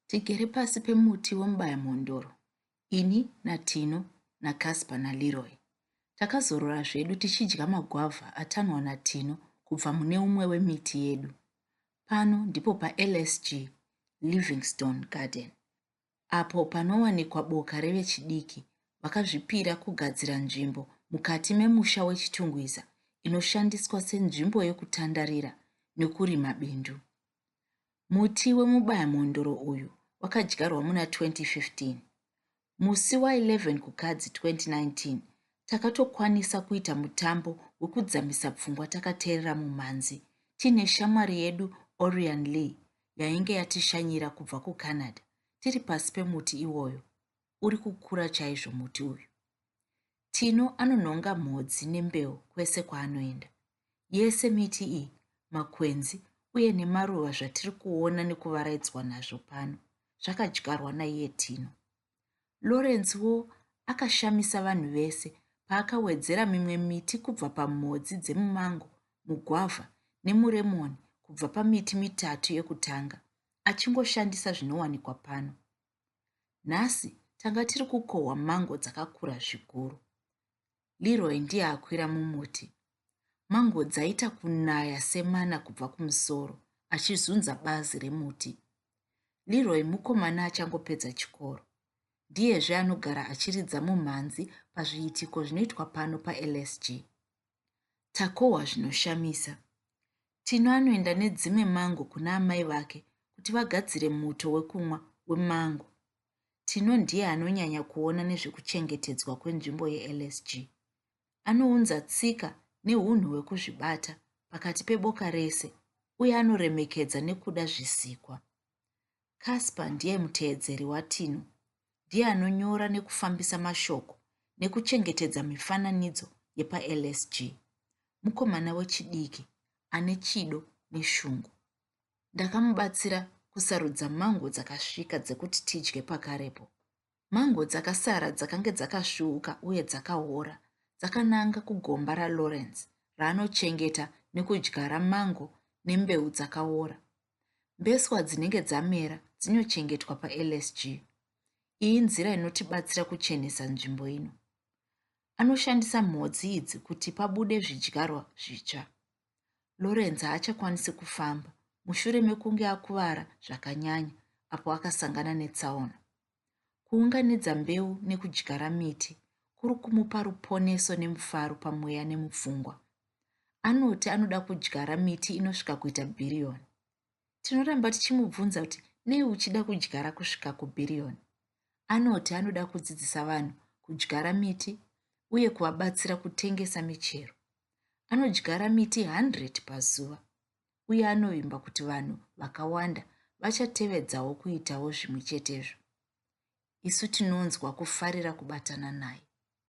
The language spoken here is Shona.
Tigere pasi pemuti wemubaya mhondoro, ini naTino naCasper naLeroy. Takazorora zvedu tichidya magwavha atanwa naTino kubva mune umwe wemiti yedu. Pano ndipo paLSG, Livingstone Garden, apo panowanikwa boka revechidiki vakazvipira kugadzira nzvimbo mukati memusha weChitungwiza inoshandiswa senzvimbo yokutandarira nekurima bindu. Muti wemubayamhondoro uyu wakadyarwa muna 2015. Musi wa11 Kukadzi 2019, takatokwanisa kuita mutambo wekudzamisa pfungwa takateerera mumhanzi tiine shamwari yedu Orian Lee yainge yatishanyira kubva kuCanada tiri pasi pemuti iwoyo uri kukura chaizvo muti uyu. Tino anonhonga mhodzi nembeu kwese kwaanoenda. Yese miti iyi, makwenzi uye nemaruva zvatiri kuona nekuvaraidzwa nazvo pano zvakadyarwa naiye Tino. Lawrence wo akashamisa vanhu vese paakawedzera mimwe miti kubva pamhodzi dzemumango, mugwavha nemuremoni kubva pamiti mitatu yekutanga achingoshandisa zvinowanikwa pano. Nhasi tanga tiri kukohwa mango dzakakura zvikuru. Leroy ndiye akwira mumuti. Mango dzaita kunaya semana kubva kumusoro achizunza bazi remuti. Leroy mukomana achangopedza chikoro. Ndiyezve anogara achiridza mumhanzi pazviitiko zvinoitwa pano paLSG. Takohwa zvinoshamisa. Tino anoenda nedzimwe mango kuna amai vake kuti vagadzire muto wekumwa wemango. Tino ndiye anonyanya kuona nezvekuchengetedzwa kwenzvimbo yeLSG. Anounza tsika nehunhu hwekuzvibata pakati peboka rese uye anoremekedza nekuda zvisikwa. Casper ndiye muteedzeri waTino. Ndiye anonyora nekufambisa mashoko nekuchengetedza mifananidzo yepaLSG. Mukomana wechidiki ane chido neshungu. Ndakamubatsira kusarudza mango dzakasvika dzekuti tidye pakarepo. Mango dzakasara dzakange dzakasvuuka uye dzakaora, dzakananga kugomba raLawrence raanochengeta nekudyara mango nembeu dzakaora. Mbeswa dzinenge dzamera dzinochengetwa paLSG. Iyi nzira inotibatsira kuchenesa nzvimbo ino. Anoshandisa mhodzi idzi kuti pabude zvidyarwa zvitsva. Lawrence haachakwanisi kufamba mushure mekunge akuvara zvakanyanya apo akasangana netsaona. Kuunganidza mbeu nekudyara miti kuri kumupa ruponeso nemufaro pamweya nemupfungwa. Anoti anoda kudyara miti inosvika kuita bhiriyoni. Tinoramba tichimubvunza kuti nei uchida kudyara kusvika kubhiriyoni. Anoti anoda kudzidzisa vanhu kudyara miti uye kuvabatsira kutengesa michero. Anodyara miti 100 pazuva uye anovimba kuti vanhu vakawanda vachatevedzawo kuitawo zvimwe chetezvo. Isu tinonzwa kufarira kubatana naye.